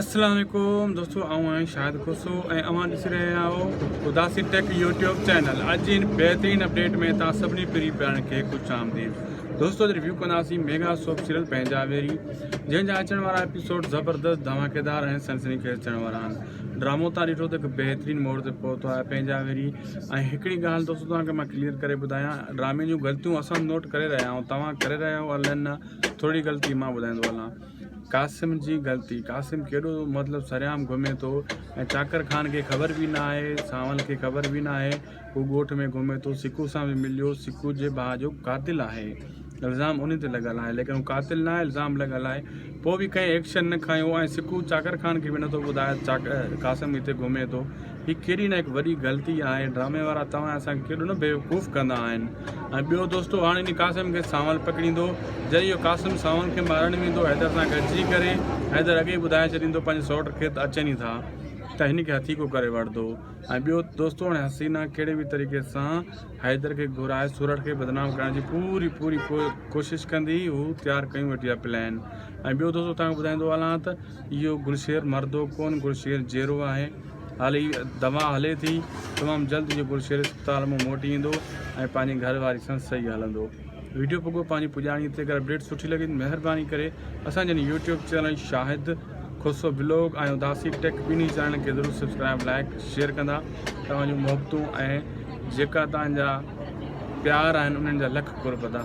اسلام عليڪم دوستو آئون آهيان شاهد کوسو ۽ اوهان ڏسي رهيا آهيو اداسي ٽيڪ يوٽيوب چينل اڄ جي ان بهترين اپڊيٽ ۾ تان سڀني پري پيارن کي خوش آمديد دوستو اڄ ريويو ڪنداسين ميگا سوپ سيريل پنهنجا ويري جنهن جا اچڻ وارا ايپيسوڊ زبردست ڌماڪيدار ۽ سنسني خيز چڙهڻ وارا آهن ڊرامو تان ڏٺو ته هڪ بهترين موڙ تي پهتو آهي پنهنجا ويري ۽ هڪڙي ڳالهه دوستو توهان کي مان ڪليئر ڪري ٻڌايان ڊرامي جون غلطيون اسان نوٽ ڪري رهيا آهيون توهان ڪري رهيا آهيو الن نه ٿورڙي غلطي مان ٻڌائيندو هلان قاسم جي غلطي قاسم ڪيڏو مطلب سرعام گهمي ٿو ۽ چاڪر خان کي خبر به نه آهي سانول کي خبر به نه آهي هو ڳوٺ ۾ گهمي ٿو سڪو سان به مليو سڪو جي ڀاء جو قاتل آهي الزام ان تي لڳل آهي ليڪن هو قاتل نه آهي الزام لڳل آهي پوء به ڪنهن ايڪشن نه کنيو ۽ سڪو چاڪر خان کي به نٿو ٻڌائي چاڪر قاسم هتي گهمي ٿو هي ڪيڏي نه هڪ وڏي غلطي آهي. ڊرامي وارا توهان اسان کي ڪيڏو نه بيوقوف ڪندا آهن. ۽ ٻيو دوستو هاڻي انهي قاسم کي سانول پڪڙيندو. جڏهن اهو قاسم سانول کي مارڻ ويندو حيدر سان گڏجي ڪري. حيدر اڳي ئي ٻڌائي ڇڏيندو پنهنجي سئوٽ کي ته اچن ئي ٿا ته هن کي هٿيڪو ڪري وٺندو. ۽ ٻيو دوستو هاڻي حسينا ڪهڙي به طريقي سان حيدر کي گهرائي سورٺ کي بدنام ڪرڻ جي پوري پوري ڪوشش ڪندي. هو تيار ڪيون ويٺي آهي پلان. ۽ ٻيو دوستو توهان کي ٻڌائيندو هلان ته. اهو گلشير مردو ڪون گلشير جيرو آهي هالي دوا هلي ٿي تمام جلد اهو گلشير اسپتال مون موٽي ايندو ۽ پنهنجي گهر واري سان صحيح هلندو ويڊيو پڳو پنهنجي پڄاڻي تي اگر اپڊيٽ سٺي لڳي ته مهرباني ڪري اسان جن YouTube channel Shahid Khoso blog ۽ Udasi tech ٻنهي چينلن کي ضرور سبسڪرائب لائق شيئر ڪندا توهان جون محبتون ۽ جيڪا توهان جا پيار آهن انهن جا لک قرب ادا